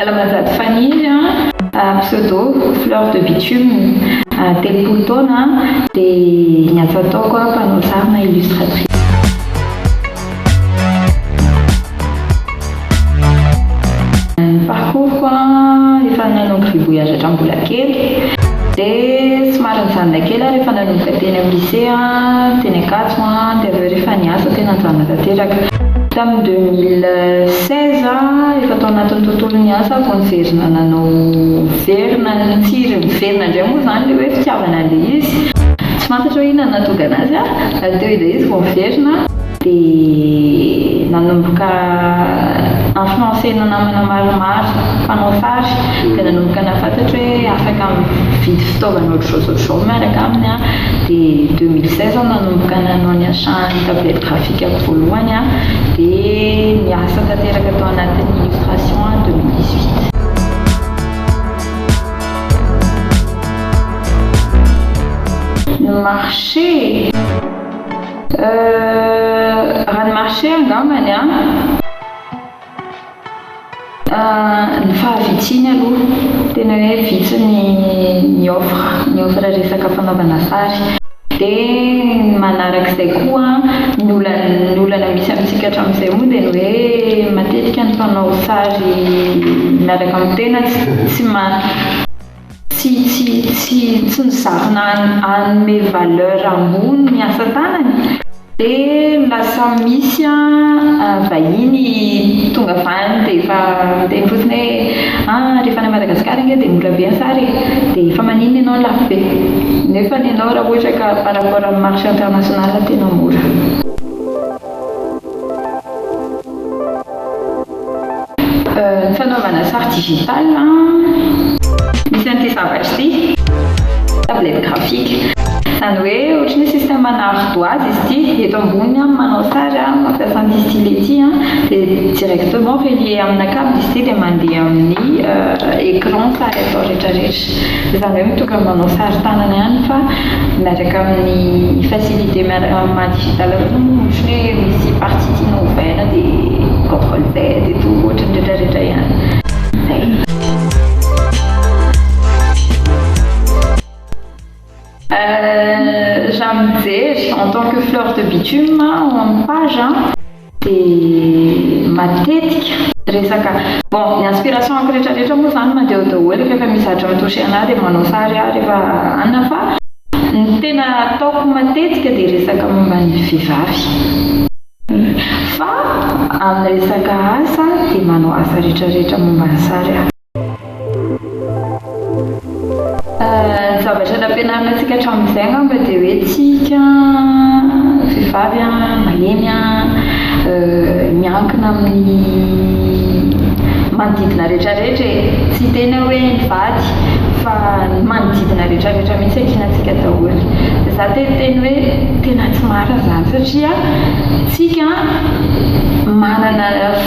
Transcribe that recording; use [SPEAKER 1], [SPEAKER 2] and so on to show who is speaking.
[SPEAKER 1] Alamazato Faniry an, pseudo, Fleur de bitume, telopolo taona an, dia ny asa ataoko an, mpanao sary na illustratrice. Ny parcours-ko an, efa nanomboka nivoyage hatramin'ny mbola kely, dia somary nijanona kely aho rehefa nanomboka teny amin'ny lycée an, teny Ankatso an, dia avy eo rehefa niasa tena nijanona tanteraka. Tamin'ny deux mille seize an, efa tao anatin'ny tontolon'ny asa aho vao niverina nanao miverina ny tsiro, miverina indray moa izany ilay hoe fitiavana an'ilay izy, tsy fantatra hoe inona no nahatonga an'azy an, ary teo ilay izy vao miverina. dia nanomboka influencer-na namana maromaro mpanao sary, dia nanomboka nahafantatra hoe afaka mividy fitaovana ohatr'izao sy ohatr'izao miaraka aminy aho, dia deux mille seize aho nanomboka nanao ny achat ny tablette graphique-ko voalohany an, dia niasa tanteraka tao anatin'ny illustration aho deux mille dix huit. Ny marché e! Euh, rano marché angambany an! Euh, ny fahavitsiany aloha, tena hoe vitsy ny ny offre, ny offre resaka fanaovana sary. Dia ny manarak'izay koa an, ny olana ny olana misy amintsika hatramin'izay moa dia ny hoe matetika ny mpanao sary miaraka amin'ny tena tsy tsy ma. Tsy tsy tsy tsy mizarina hanome valeur ambony ny asa tanany. Dia lasa misy an vahiny tonga vany dia efa miteny fotsiny hoe an rehefa any Madagascar ange dia mora be ny sary e, dia efa maninona ianao ny lafo be? Nefa ny anao raha ohatra ka par rapport amin'ny marche international tena mora. Fanaovana sary digital misy an'ity zavatra ity, tablette graphique. Izany hoe ohatry ny hoe système ana ardoise izy ity, eto ambony aho manao sary mampiasa an'ity stylet ity dia directement relier amina cable izy ity dia mandeha amin'ny écran sary atao rehetra rehetra. Efa indray mitondra ny manao sary tanana ihany fa miaraka amin'ny facilité miaraka amin'ny maha digital koa moa ohatran'ny hoe misy partie tiana ovaina dia control Z et tout ohatran'ny retraretra ihany. Izay. Euh, raha mijery en tant que fleur de bitume en page an, dia matetika resaka bon ny inspirations-ko rehetrarehetra moa izany madio daholo rehefa misy zatra mi-toucher an'ahy dia manao sary aho rehefa anona fa ny tena ataoko matetika dia resaka momba ny vehivavy. Fa amin'ny resaka asa dia manao asa rehetrarehetra momba ny sary aho. Ny zavatra nampianarina antsika hatramin'izay angamba dia hoe tsika vehivavy an, malemy an, miankina amin'ny manodidina rehetrarehetra e, tsy hiteny aho hoe ny vady fa ny manodidina rehetrarehetra mihintsy ankinantsika daholo, dia za te hiteny hoe tena tsy marina izany satria tsika manana